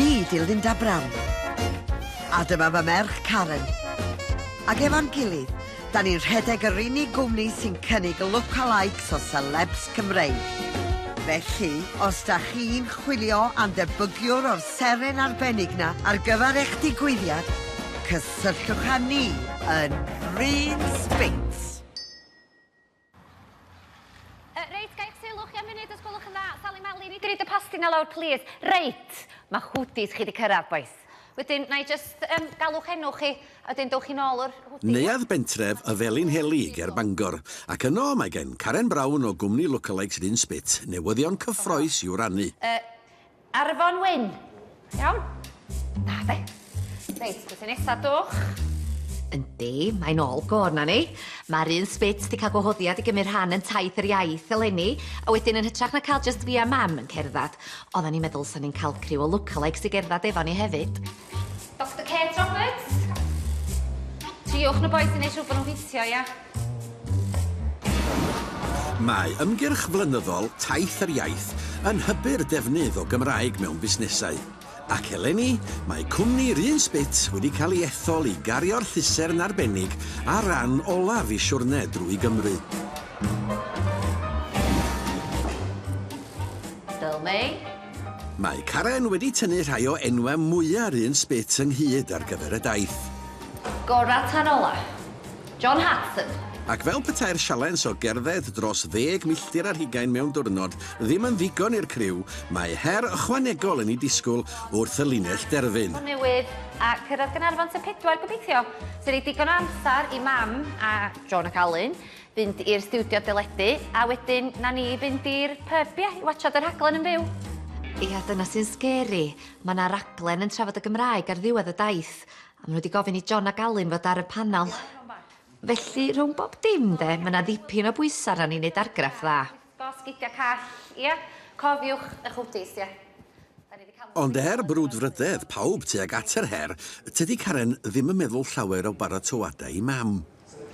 Fi di Linda Brown. A dyma fy merch Karen. Ac efo'n gilydd, da ni'n rhedeg yr unig gwmni sy'n cynnig lookalikes o celebs Cymreig. Felly, os da chi'n chwilio am ddebygiwr o'r seren arbennig na ar gyfer eich digwyddiad, cysylltwch â ni yn Bryn Spinks. Uh, reit, gael eich sylw chi am funud os gwelwch yn dda. Sali Mali, ni dri dy pasti na lawr, plîs. Reit, mae hwdis chi wedi cyrraedd, boys. Wedyn, na i just um, galwch enw chi, a wedyn dewch chi'n ôl o'r hwdis. Neuadd bentref y Felinheli ger Bangor, ac yno mae gen Karen Brown o gwmni Lookalikes Rhun Spit newyddion cyffroes i'w rannu. Uh, Ar y fon wyn. Iawn? Da, de. Reit, beth yn nesaf dwch? Yndi, mae'n ôl gor na ni. Mae'r un sbit di cael gwahoddiad i gymryd rhan yn taith yr iaith eleni, a wedyn yn hytrach na cael just fi a mam yn cerdded, oedden ni'n meddwl sa'n ni'n cael criw o lookalikes i gerdded efo ni hefyd. Doctor Kate Roberts? Triwch na boi sy'n neud siŵr bod nhw'n ffitio, ia? Mae ymgyrch flynyddol Taith yr Iaith yn hybu'r defnydd o Gymraeg mewn busnesau, ac eleni mae cwmni Run Spit wedi cael ei ethol i gario'r llusern arbennig ar ran olaf i siwrne drwy Gymru. Still me. Mae Karen wedi tynnu rhai o enwau mwya'r un sbit ynghyd ar gyfer y daith. Gorau tan ola. John Hartson. Ac fel petai'r sialens o gerdded dros ddeg milltir ar hugain mewn diwrnod ddim yn ddigon i'r criw, mae her ychwanegol yn eu disgwyl wrth y linell derfyn. Newydd a cyrraedd Gaernarfon tua pedwar, gobeithio. Sy'n rhoi digon o amser i Mam a John ac Alun Fynd i'r stiwdio deledu a wedyn 'na ni fynd i'r pyb ia? I watsio dy rhaglen yn fyw. Ia dyna sy'n sgeri. Ma' 'na raglen yn trafod y Gymraeg ar ddiwedd y daith a ma' n'w 'di gofyn i John ac Alun fod ar y panel. Felly rhwng bob dim 'de ma' 'na ddipyn o bwysa arna ni neud argraff dda. Go sgidia call, ia? Cofiwch eich hwdis, ia? Da ni di ca'l hwdis. Ond er brwdfrydedd pawb tuag at yr her, tydi Karen ddim yn meddwl llawer o baratoadau i Mam.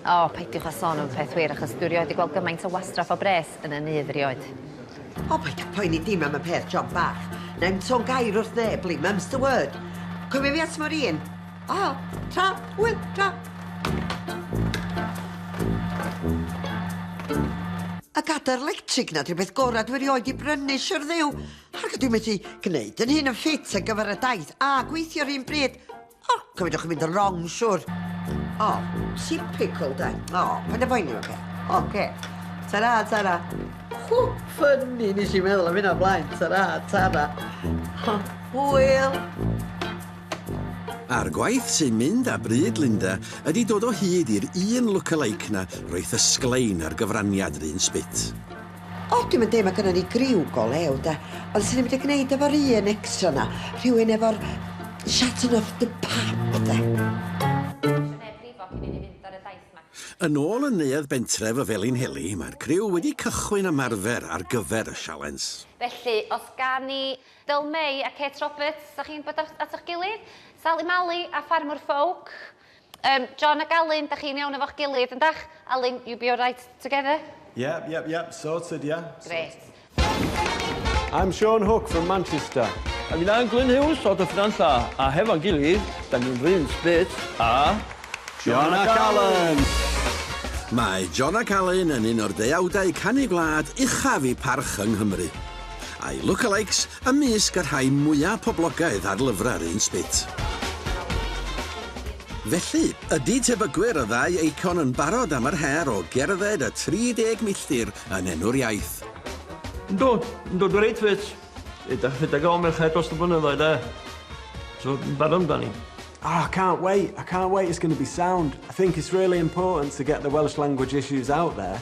O, peidiwch â sôn am y peth wir, achos dwi rioed di gweld gymaint o wastraff o bres yn 'y nydd rioed. O, paid â phoeni dim am y peth, John bach. Nai'm son gair wrth neb, Lee, mum's the word. Cofia fi at Moreen? A, tra, wyl, tra. A gadair lectrig na drybeth gorau dwi rioed i brynu, siwr ddew. Ac dwi methu gwneud yn hyn yn ffit ar gyfer y daith a gweithio rhywun bryd. O, oh, cyfydwch yn mynd yn wrong, siwr. O, oh, typical da. O, oh, pan y boenio fe. O, ce. Tara, tara. Hw, ffynnu, nes i meddwl am hynna blaen. Tara, tara. Hwyl. A'r gwaith sy'n mynd â bryd Linda ydi dod o hyd i'r un look-alike 'na roith y sglein a'r gyfraniad 'r un sbit. O, dwi'm yn deud ma' gynnon ni griw go lew 'de, ond swn i'n mynd i gneud efo'r un extra 'na, rhywun efo'r shaton of the pap 'de. Yn ôl yn Neuadd Bentref y Felinheli, mae'r criw wedi cychwyn ymarfer ar gyfer y sialens. Felly, os gawn ni Del May a Kate Roberts, sa chi'n bod at ych gilydd? Sali Mali a Ffarmwr Ffowc? Yym, John ac Alun, da chi'n iawn efo'ch gilydd, yndach? Alun, you be alright together? Yep, yep, yep, sorted, ia. Grêt. I'm Sean Hook from Manchester. A finna Glyn Hughes o Dyffryn Nantlla, a hefo'n gilydd, da ni'n run split a John ac Alun! Mae John ac Alun yn un o'r deuawdau canu gwlad uchaf i parch yng Nghymru. a'i look-a-likes ymysg y rhai mwyaf poblogaidd ar lyfrau'r un sbit. Felly, ydy tebygwyr y ddau eicon yn barod am yr her o gerdded y 30 milltir yn enw'r iaith? Yndw, yndw, dwi'n reit ffit. Rhedeg, rhedeg o Merched dros y blynyddoedd, de. So, yn barod amdani. Oh, I can't wait, I can't wait, it's going to be sound. I think it's really important to get the Welsh language issues out there.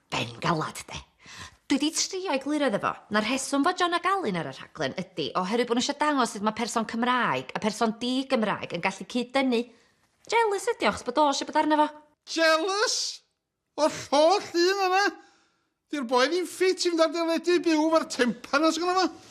Ben galad 'de. Dwi 'di trio egluro iddo fo, na'r rheswm fod John ac Alun ar y rhaglen ydi oherwydd bod nhw isio dangos sut mae person Cymraeg a person di-Gymraeg yn gallu cyd-dynnu. Jealous ydi o achos bod o eisiau bod arno fo. Jealous? O'r holl un yna? Di'r boi ddim ffit i fynd ar deledu i byw 'fo'r tempan 'na sgynno fo.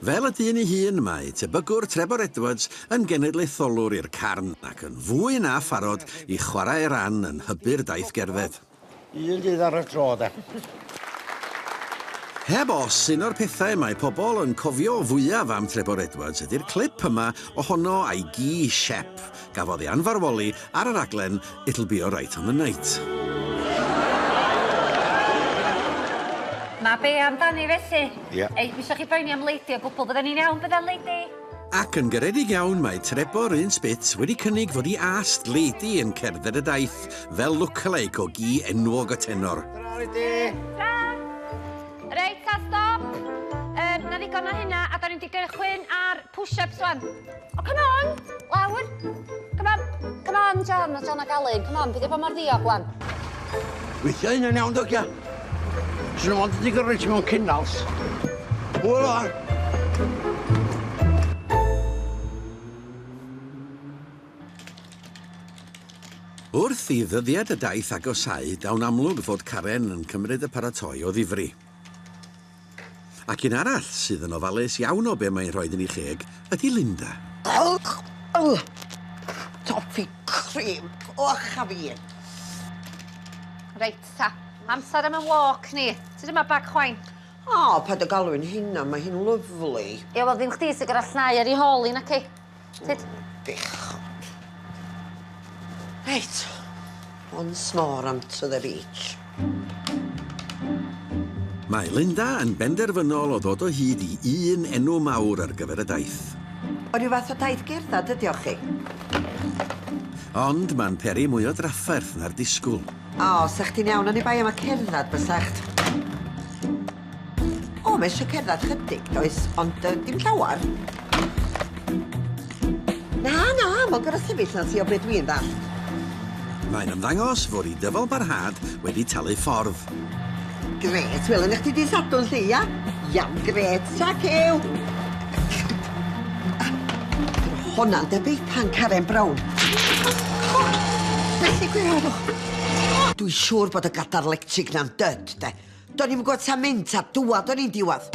Fel y dyn ei hun, mae tebygwr Trebor Edwards yn genedlaetholwr i'r carn ac yn fwy na pharod i chwarae ei ran yn hybu'r daith gerdded. Un dydd ar y tro, de. Heb os, un o'r pethau mae pobl yn cofio fwyaf am Trebor Edwards ydi'r clip yma ohono a'i gi siep, Gafodd ei anfarwoli ar y rhaglen It'll Be Alright on the Night. Mae be amdani felly? Ie. Ei, dwi eisiau chi boeni am Lady o gwbl, bydden ni'n iawn bydden Lady? Ac yn garedig iawn mae Trebor un spit wedi cynnig fod i ast Lady yn cerdded y daith fel lookalike o gi enwog y tenor. Tra Lady! Tra! Reit, ta stop! Um, na ddigon o hynna, a da ni'n mynd i gychwyn ar push-ups wan. O, come on! Lawr! Come on! Come on, John, mae John ac Alun. Come on, peidio bod mor ddiog, wan. Weithio hyn yn iawn, dogia. Swn nhw'n ond wedi gyrru ti mewn cynals. Hwyl o'n! Wrth i ddyddiad y daith agosáu, daw'n amlwg fod Karen yn cymryd y paratoi o ddifri. Ac un arall sydd yn ofalus iawn o be mae'n rhoid yn ei cheg ydy Linda. Dewch yng nghoffi crib coch a fi. Reit ta, amser am y walk ni. Ti ddim â bag chwain. O, paid â galw hi'n hynna, mae hi'n lyfli. Ie, wel ddim chdi sy'n gorfod llnau ar ei hôl hi, naci? Sut? Bechod. Reit. Once more onto the beach. Mae Linda yn benderfynol o ddod o hyd i un enw mawr ar gyfer y daith. O ryw fath o daith gerdded ydi o chi? Ond mae'n peri mwy o drafferth na'r disgwyl. O, sa chdi'n iawn oni bai am y cerdded, bysach. O, mae eisiau cerdded chydig, does, ond uh, dim llawer. Na, na, mae'n gorau sefyll na ti o beth dwi'n ddall. Mae'n ymddangos fod i dyfal barhad wedi talu ffordd. Gret, wel yna chdi di sadwn lle, ia? Iawn, gret, ta cew. Honna'n debyg pan Karen Brown. Felly gwe arw. Dwi siŵr bod y gadar lectig na'n dyd, de. Do'n i'm yn gwybod ta mynd ta dŵad o'n i'n diwad.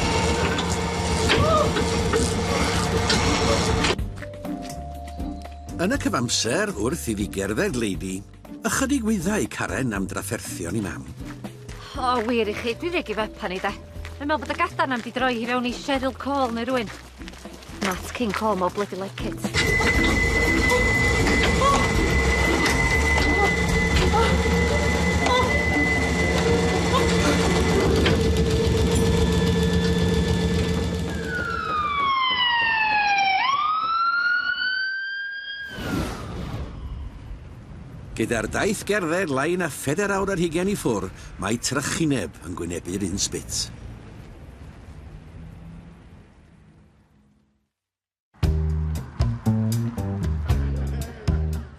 Yn y cyfamser wrth i fi gerdded Lady, ychydig wyddau Karen am drafferthion i mam. O, wir i chi, dwi regi fe pan i de. Mae'n meddwl bod y gadarn am di droi hi fewn i Cheryl Cole neu rwy'n. Nat King Cole mor bloody like it. Gyda'r daith gerdded lai na phedair awr ar hugain i ffwr, mae trychineb yn gwynebu'r un sbit.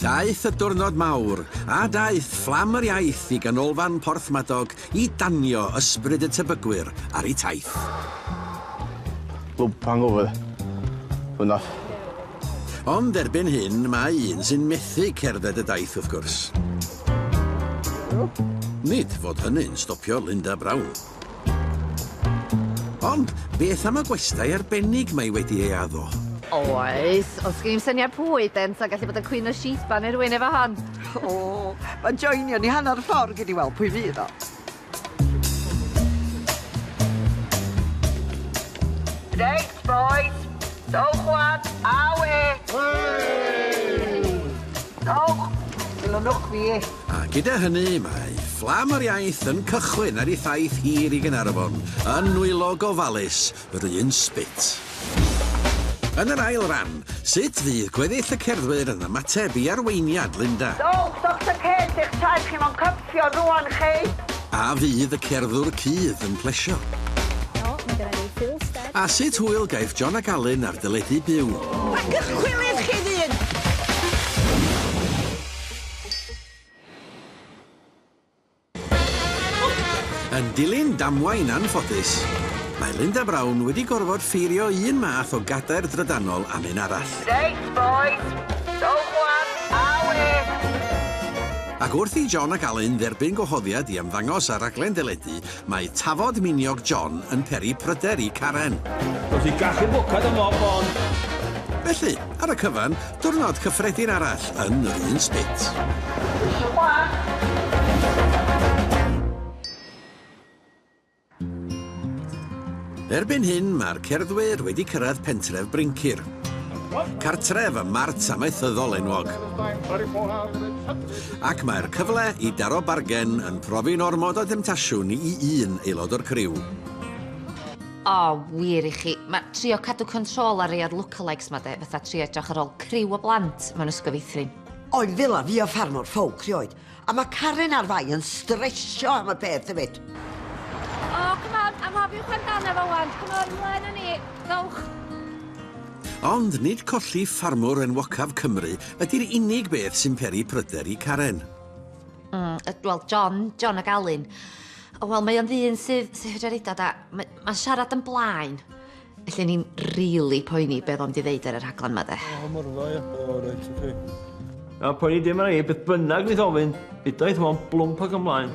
Daeth y diwrnod mawr, a daeth fflam yr iaith i ganolfan Porthmadog i danio ysbryd y tebygwyr ar ei taith. Lwp hangover. Hwna. Ond erbyn hyn, mae un sy'n methu cerdded y daith wrth gwrs. Nid fod hynny'n stopio Linda Brown. Ond, beth am y gwestai arbennig mae wedi ei addo? Oes, ond sgen i'm syniad pwy ydynt, ond gallu bod yn Cwyn o Sheba neu rywun efo hon. O, mae'n joinio ni hanner y ffordd, gei di weld pwy fydd o. Reit, bois, dowch wan, awe! Hei! Dowch! Dilynwch fi! A gyda hynny, mae fflam yr iaith yn cychwyn ar ei thaith hir i Gaernarfon, yn nwylo gofalus yr un sbit. Yn yr ail ran, sut fydd gweddill y cerddwyr yn ymateb i arweiniad Linda? Dowch, Doctor Kate, eich taith chi mewn cwpl o Cio rwan chi! A fydd y cerddwr cudd yn plesio? O, mae genna ni Phil Stead. A sut hwyl gaiff John ac Alun ar deledu byw? Paciwch cwilydd chi ddyn! Yn dilyn damwain anffodus, mae Linda Brown wedi gorfod ffeirio un math o gadair drydanol am un arall. Reit, bois, dowch 'wan, a ŵyr! Ac wrth i John ac Alun dderbyn gwahoddiad i ymddangos ar raglen deledu, mae tafod miniog John yn peri pryder i Karen. Wrth i gachu bwced ym mhob bôn. Felly, ar y cyfan, diwrnod cyffredin arall yn yr un spit. Erbyn hyn mae'r cerddwyr wedi cyrraedd pentref Bryncir, cartref y mart amaethyddol enwog. Ac mae'r cyfle i daro bargen yn profi'n ormod o demtasiwn i un aelod o'r criw. O, wir i chi, mae trio cadw control ar rei o'r lookalikes 'ma de, fatha trio edrych ar ôl criw o blant mewn ysgol feithrin. Oedd fel a fi a ffarmwr ffowc 'rioed. A mae Karen a'r ddau yn stresio am y peth hefyd. O, oh, come on, am hofiwch amdano fo wan. Come on, mlaen â ni. Dowch. Ond nid colli ffarmwr enwocaf Cymru ydy'r unig beth sy'n peri pryder i Karen. Mm, wel, John, John ag Alun. Wel, mae o'n ddyn sydd, sydd hydreridod a mae'n ma siarad yn blaen. Felly o'n i'n rili poeni be oedd o'n mynd i ddeud ar y rhaglen 'ma de. O, mor dda, ia. O, reit, oce. Na, poeni dim arna i, beth bynnag wnaeth ofyn, hyddaeth fo'n blwmp ac ymlaen.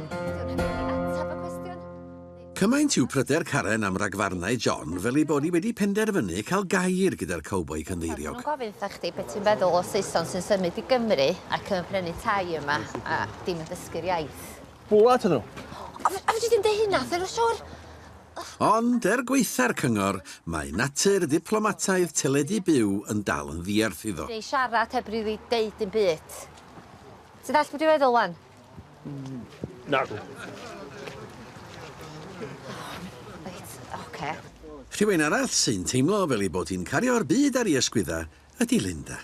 Cymaint yw pryder Karen am ragfarnau John fel ei bod hi wedi penderfynu cael gair gyda'r cowboi cynddeiriog. Maen nhw'n gofyn wrthach chdi beth ti'n feddwl o Saeson sy'n symud i Gymru ac yn prynu tai yma a dim yn dysgu'r iaith. Bwla atyn nhw! O, fedri di'm deud hynna, Phil, siŵr? Ond, er gwaetha'r cyngor, mae natur ddiplomataidd teledu byw yn dal yn ddierth iddo. Neu siarad heb rili deud dim byd. Ti'n dallt be' dwi'n feddwl 'wan? Nagw. Reit, ocê. Rhywun arall sy'n teimlo fel ei bod hi'n cario'r byd ar ei ysgwyddau ydi Linda.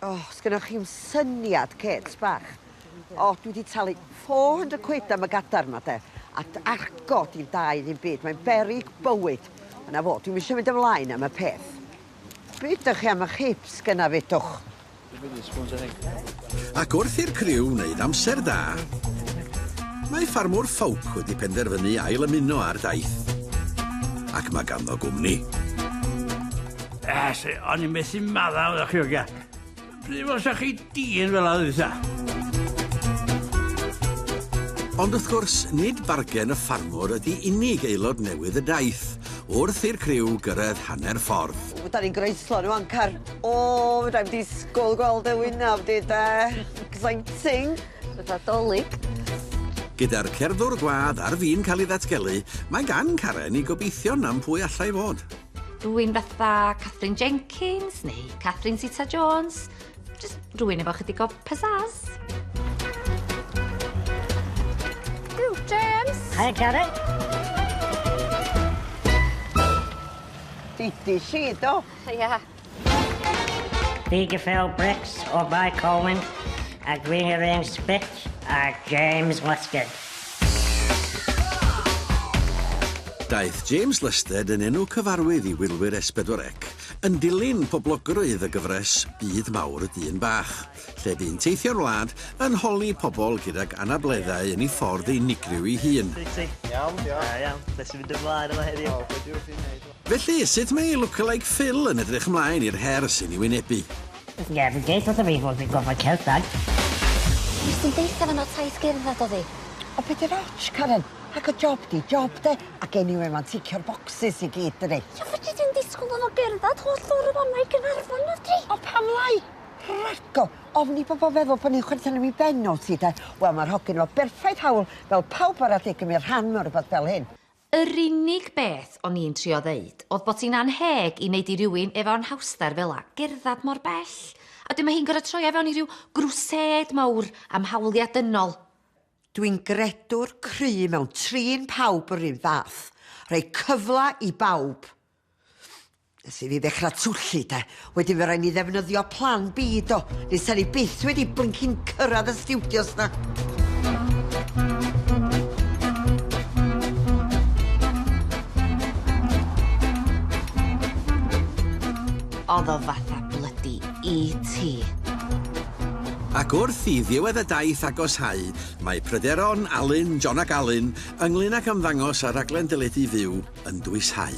O, sgynnoch chi'm syniad, Kate, bach. O, dwi wedi talu 400 quid am y gadar yma, de. A argo di'n da i ddim byd, mae'n beryg bywyd. Ond na fo, dwi'n eisiau mynd ymlaen am y peth. Be ydych chi am y chips gyna fedwch? Ac wrth i'r criw wneud amser da, mae ffarmwr Ffowc wedi penderfynu ail ymuno â'r daith. Ac mae ganddo gwmni. Yes, o'n i'n methu maddau o'r chi ogia. Pryd os chi dyn fel oedd isa? Ond wrth gwrs, nid bargen y ffarmwr ydy unig aelod newydd y daith, wrth i'r criw gyrraedd hanner ffordd. O, da ni'n greislo nhw ancar. O, da ni'n disgwyl gweld y wynaf di da. Exciting. Bytha dolyg. Gyda'r cerddwr gwadd ar fin cael ei ddatgelu, mae gan Karen i gobeithio nam pwy allai fod. Rwy'n fatha Katherine Jenkins neu Katherine Zeta-Jones. Just rwy'n efo chydig o pizzazz. Yw, James! Hi, Karen. Didi si, do? Ia. Fi Gefell Bricks o Bae Colwyn a dwi'n yr un sbit a James Lysted. Daeth James Lysted yn enw cyfarwydd i wylwyr S4C yn dilyn poblogrwydd y gyfres Byd Mawr y Dyn Bach, lle bu'n teithio'r wlad yn holi pobl gydag anableddau yn ei ffordd unigryw ei hun. Iawn, diolch. Da iawn. Be sy'n mynd ymlaen yma heddiw? Felly, sut mae Lookalike Phil yn edrych ymlaen i'r her sy'n ei wynebu? Ie, fi'n deud wrtho fi fod fi'n gorfod cerdded. Nes di'm deutha fo na taith gerdded odd 'i. O be' di'r ots, Karen? Ac y job 'di job 'de? Ac eniwe ma'n ticio'r bocsys i gyd dydi? Ie, fedri di'm disgwl iddo fo gerdded holl ffor o fama i Gaernarfon nadwdri? O pam lai? Rhago! Ofn i bobol feddwl bo' ni'n chwerthin am 'i ben o ti 'de? Wel ma'r hogyn efo berffaith hawl fel pawb arall i gymyd rhan mewn rwbeth fel hyn. Yr unig beth o'n i'n trio ddeud o'dd bod hi'n annheg i neud i rywun efo anhawster fela gerddad mor bell, a wedyn ma' hi'n gor'o' troi o fewn i ryw grwsêd mawr am hawlia' dynol. Dwi'n gredwr cry mewn trin pawb yr un fath, rhoi cyfla i bawb. Nes i fi ddechra twllu de, wedyn fe rai ni ddefnyddio plan B do, nes ta ni byth wedi blincin cyrraedd y stiwdios na. Oedd o fatha blydi ET. Ac wrth i ddiwedd y daith agoshau, mae pryderon Alun, John ac Alun ynglŷn ag ymddangos ar raglen deledu Fyw yn dwyshau.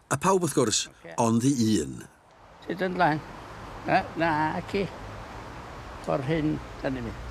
A phawb wrth gwrs, ond i un. Sut yn lan? Na, na ci. Ffordd hyn, da ni'n mynd.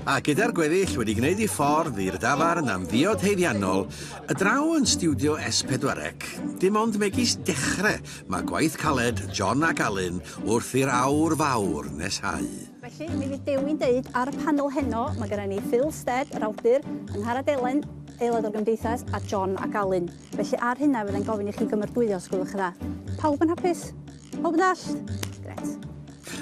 A gyda'r gweddill wedi gwneud ei ffordd i'r dafarn am ddiod haeddiannol, y draw yn stiwdio S4C, dim ond megis dechre mae gwaith caled John ac Alun wrth i'r awr fawr neshau. Felly, mi fydd Dewi'n deud ar y panel heno, mae gyda ni Phil Stead, yr awdur, Angharad Elen, aelod o'r Gymdeithas, a John ac Alun. Felly, ar hynna, fydda i'n gofyn i chi gymordwyo, os gwelwch yn dda. Pawb yn hapus? Pawb yn dallt? Gret.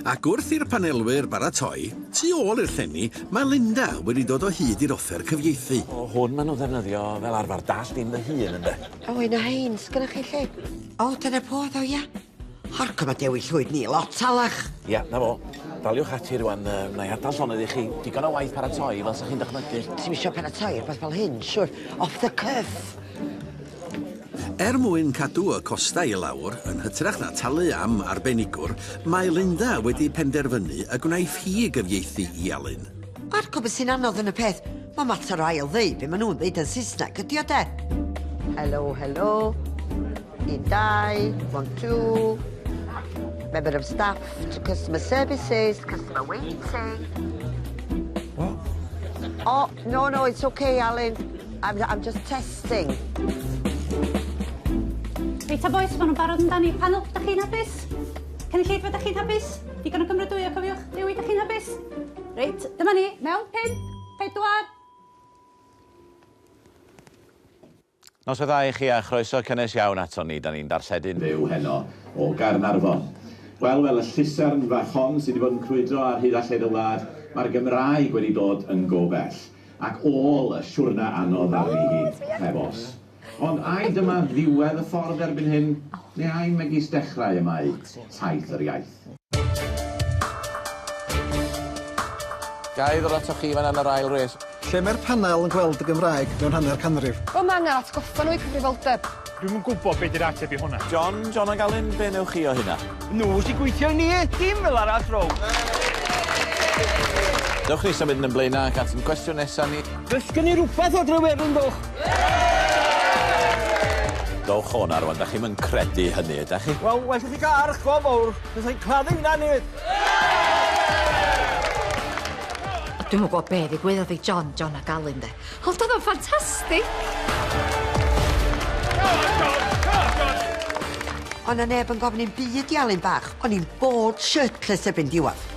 Ac wrth i'r panelwyr baratoi, tu ôl i'r llenni, mae Linda wedi dod o hyd i'r offer cyfieithu. O, hwn maen nhw'n ddefnyddio fel arfer, dallt dim fy hun, ynde? O, un o hein, sgynnoch chi lle? O, dyna po ddo, ia? Hark, mae Dewi Llwyd ni lot talach. Ia, na fo. Daliwch ati rwan, uh, na i adael llonydd i chi. Digon o waith paratoi, fel sa chi'n dychmygu. Ti'n eisiau paratoi ar beth fel hyn, siwr. Off the cuff. Er mwyn cadw y costau i lawr, yn hytrach na talu am arbenigwr, mae Linda wedi penderfynu y gwnaiff hi gyfieithu i Alun. Marco, beth sy'n anodd yn y peth? Mae mater o ail ddeu be maen nhw'n ddeud yn Saesneg, ydy o de? Helo, helo. Y dau, one, two, member of staff to customer services, customer waiting. What? Oh, no, no, it's okay, Alun. I'm, I'm just testing. Reit, a boys, maen nhw'n barod amdani. Panel, da chi'n hapus? Cynulleidfa, da chi'n hapus? Digon o gymrydwyo, cofiwch. Dewi, da chi'n hapus? Reit, dyma ni, mewn pin, pedwar, Noswaith dda i chi a chroeso cynnes iawn aton ni, 'dan ni'n darlledu'n. Fyw heno o Gaernarfon. Wel, fel y llusern fach hon sydd wedi bod yn crwydro ar hyd a lled y wlad, mae'r Gymraeg wedi dod yn go bell, ac ôl y siwrne anodd ddaru hi, heb os. Ond ai dyma ddiwedd y ffordd erbyn hyn, neu ai megis dechrau y mae taith yr iaith? Ga i ddod atoch chi fan 'na yn yr ail res? Lle mae'r panel yn gweld y Gymraeg mewn hanner canrif? Wel mae angen atgoffa nhw i cyfrifoldeb. Dwi'm yn gwybod be 'di'r ateb i hwnna. John, John ac Alun, be newch chi o hynna? Nhw sy'n gweithio i ni, dim fel arall Row! Dewch ni symud yn y blaenau ac at ein cwestiwn nesa ni. Dysgen ni rwbeth o Drewerin ddoch! Dowch o 'na rwan, dach chi'm yn credu hynny, ydach chi? Wel, well i chi gael arch go fowr, fysai hi'n claddu hynna nid! Dwi'm yn gwybod be' ddigwyddodd i John, John ac Alun 'de, ond o'dd o'n ffantastig! Go on John! Go on John! O' 'na neb yn gofyn i'm byd i Alun bach, o'n i'n bored shirtless erbyn diwadd.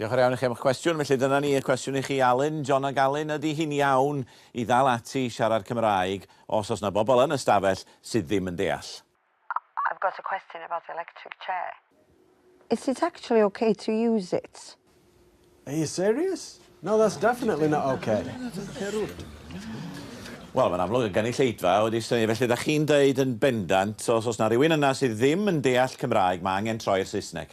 Diolch yn iawn i chi am eich cwestiwn. Felly dyna ni, y cwestiwn i chi Alun, John ac Alun, ydy hi'n iawn i ddal ati i siarad Cymraeg os oes 'na bobl yn y stafell sydd ddim yn deall? I've got a question about the electric chair. Is it actually ok to use it? Are you serious? No that's definitely not ok. Wel mae'n amlwg y gynulleidfa wedi synnu felly dach chi'n deud yn bendant os oes 'na rywun yna sydd ddim yn deall Cymraeg mae angen troi'r Saesneg?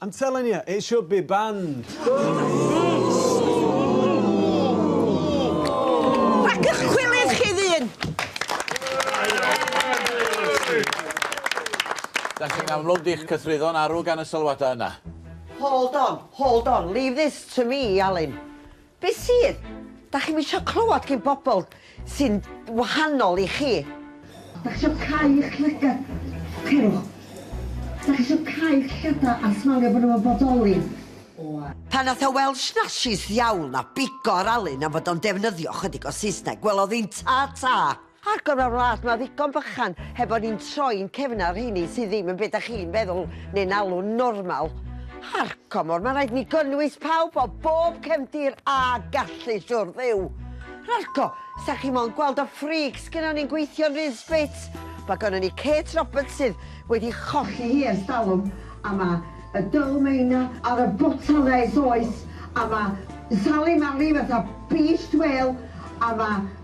I'm telling you, it should be banned. Rhag ych cwilydd chi ddyn! Da chi'n amlwg di'ch cythruddo'n arw gan y sylwadau yna. Hold on, hold on, leave this to me, Alun. Be sydd? Dach chi'm isio clywed gin bobl sy'n wahanol i chi? Dach chi isio cau eich llygad? Cerwch. Dach chi isio cau eich llygad a smalio bod nhw yn bodoli? Pan nath o weld snashys ddiawl na bigo ar Alun am fod o'n defnyddio chydig o Saesneg, welodd hi'n ta ta! Ar gyfer wlad ma ddigon bychan heb fod ni'n troi'n cefn ar rheini sydd ddim yn be da chi'n feddwl neu'n alw'n normal. Ar comor, ma raid ni gynnwys pawb o bob cefndir a gallu siwr Dduw. Rarco, sa chi mo'n gweld y freaks gynnon ni'n gweithio'n rhydd sbits? Ma gynnon ni Kate Roberts sydd wedi cholli hi ers talwm a ma y Dull Maina ar y botal nes oes a ma Sali Mali fatha beached whale a ma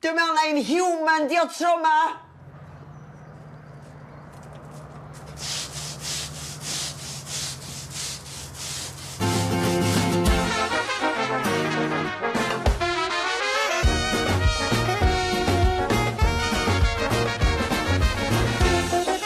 Dw mewn na un human di o tro ma!